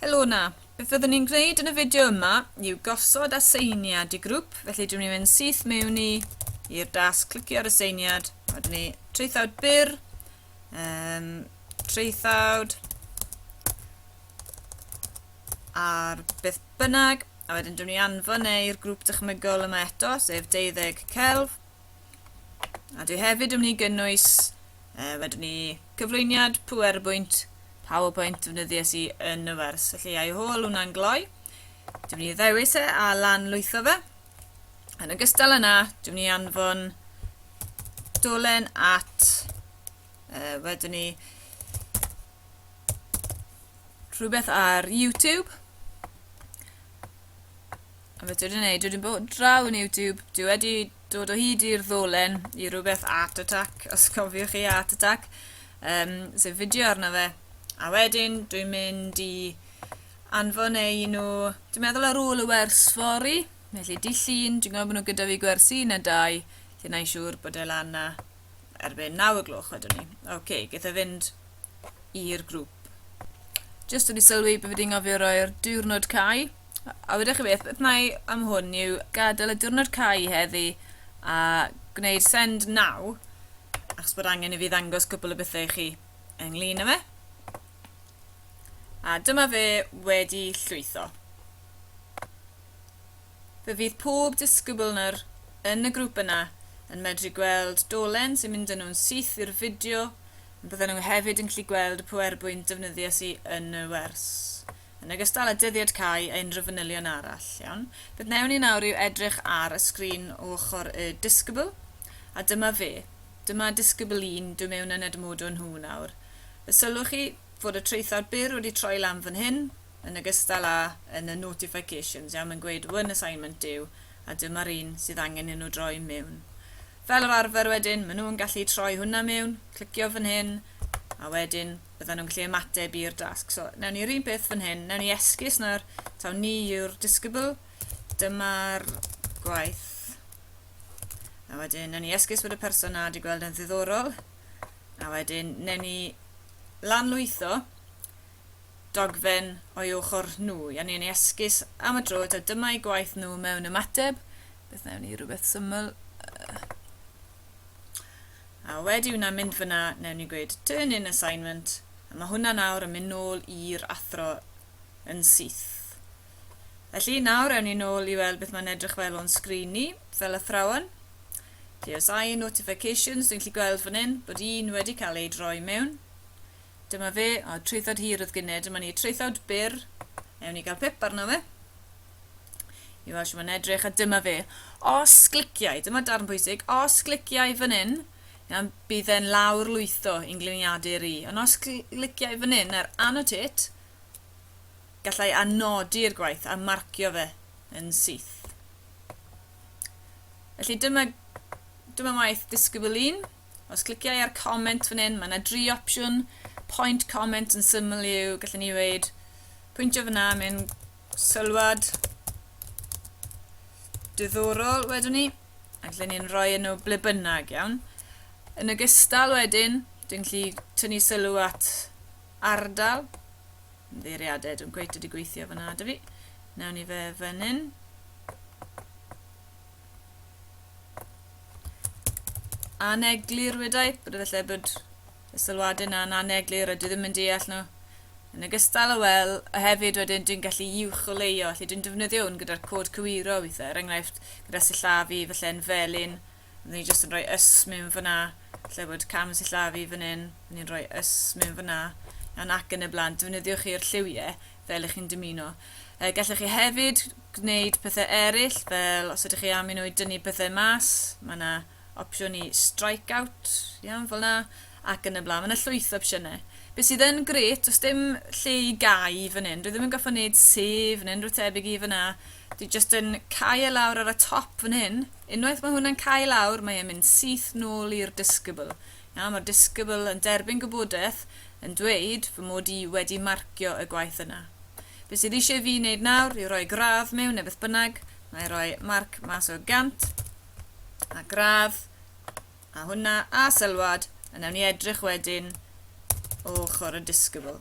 Helo na. Beth fyddwn ni'n gwneud yn y fideo yma yw gosod aseiniad i grŵp, felly dwi'n mynd i'n syth mewn i i'r dasg, clicio ar y seiniad, wedyn ni traethawd byr, um, traethawd ar beth bynnag, a wedyn dwi'n ni anfon neu'r grŵp dychmygol yma eto, sef deuddeg celf, A dwi hefyd yn mynd i gynnwys, e, wedwn ni, cyflwyniad PowerPoint, PowerPoint defnyddies i yn y wers. Felly, I hôl hwnna'n gloi. Dwi'n mynd i ddewis e a lan lwytho fe. Yn ogystal yna, dwi'n mynd i anfon dolen at, e, wedwn ni, rhywbeth ar YouTube A beth dwi'n neud? Dwi'n bod draw yn YouTube. Dwi wedi dod o hyd i'r ddolen i rhywbeth Art Attack, os cofiwch chi Art Attack, um, sef fideo arno fe. A wedyn dwi'n mynd i anfon ei nhw, dwi'n meddwl ar ôl y wers fori, felly di llun, dwi'n gwybod bod nhw gyda fi gwersi yn y dau, lle na i'n siŵr bod e lan na. erbyn 9 o gloch wedwn ni. Oce, okay, gaeth e fynd i'r grŵp. Just wedi sylwi bod fi wedi ngofio roi'r diwrnod cae. A wedi chi beth, beth mae am hwn yw gadael y diwrnod cae heddi a gwneud send now achos bod angen i fi ddangos cwpl o bethau i chi ynglyn â fe. A dyma fe wedi llwytho. Fe fydd pob disgybl-nyr yn y grŵp yna yn medru gweld dolen sy'n mynd â nhw'n syth i'r fideo, ond bydden nhw hefyd yn gallu gweld y powerpoint defnyddies i yn y wers, yn ogystal â dyddiad cau a unrhyw fanylion arall. Iawn. Beth wnewn ni nawr yw edrych ar y sgrin o ochr y disgybl, a dyma fe. Dyma disgybl 1, dwi mewn yn edmodo nhw nawr. Fe sylwch chi fod y traethawd byr wedi troi lan fan hyn, yn ogystal â yn y notifications, iawn, yn gweud one assignment due a dyma'r un sydd angen i nhw droi mewn. Fel yr arfer wedyn, maen nhw'n gallu troi hwnna mewn, clicio fan hyn, a wedyn bydden nhw'n gallu ymateb i'r dasg. So, newn ni'r un peth fan hyn, newn ni esgus nawr, taw ni yw'r disgybl, dyma'r gwaith. A wedyn, newn ni esgus bod y person na wedi gweld yn ddiddorol, a wedyn, newn ni lanlwytho, dogfen o'i ochr nhw. Iawn, ni'n ei esgus am y tro eto. Dyma'i gwaith nhw mewn ymateb. Beth newn ni? Rhywbeth syml. A wedi hwnna mynd fyna, newn ni gweud turn in assignment, a mae hwnna nawr yn mynd nôl i'r athro yn syth. Felly, nawr ewn ni nôl i weld beth mae'n edrych fel o'n sgrin ni, fel athrawon. TSI notifications, dwi'n gallu gweld fan hyn bod un wedi cael ei droi mewn. Dyma fe, o traethawd hir oedd gynne, dyma ni traethawd byr, ewn ni gael pip arno fe, i weld sy'n mae'n edrych, a dyma fe. Os gliciau, dyma darn pwysig, os gliciau fan hyn, iawn, bydd e'n lawr lwytho i'n gliniadur i, ond os gliciau fan hyn ar annotate, gallai anodi'r gwaith a marcio fe yn syth. Felly dyma, dyma waith disgybl un. Os clicia i ar comment fan hyn, mae yna dri opsiwn, point comment yn syml yw, gallwn ni weud, pwyntio fyna, mae'n sylwad diddorol wedwn ni, a gallwn ni'n rhoi yn nhw ble bynnag, iawn. Yn y gystal wedyn, dwi'n gallu tynnu sylw at ardal, ymddeiriadau, dwi'n gweithio wedi gweithio fyna da fi, nawn ni fe fan hyn. aneglur wedai, bod efallai bod y sylwadau yna'n aneglur a dwi ddim yn deall nhw. Yn ogystal â wel, a hefyd wedyn dwi'n gallu uwch o leio, felly dwi'n defnyddio hwn gyda'r cod cywiro weithiau, er enghraifft gyda sillafu, felly yn felyn, byddwn ni jyst yn rhoi ys mewn fyna, felly bod cam sillafu fan hyn, byddwn ni'n rhoi ys mewn fyna, yn ac yn y blaen, defnyddiwch chi'r lliwiau fel ych chi'n dymuno. Uh, gallech chi hefyd gwneud pethau eraill, fel os ydych chi am i nhw i dynnu pethau mas, mae yna opsiwn i strike out, iawn, fel yna, ac yn y blaen. Mae yna llwyth o opsiynau. Be sydd yn gret, os dim lle i gau fan hyn, dwi ddim yn goffa wneud sef neu unrhyw tebyg i fyna. Dwi just yn cau e lawr ar y top fan hyn. Unwaith mae hwnna'n cau lawr, mae e'n mynd syth nôl i'r discable. A mae'r disgybl yn derbyn gwybodaeth yn dweud fy mod i wedi marcio y gwaith yna. Be sydd eisiau fi wneud nawr yw rhoi gradd mewn neu beth bynnag, na i roi marc mas o 100, a gradd, a hwnna, a sylwad, a wnawn ni edrych wedyn o ochr y disgybl.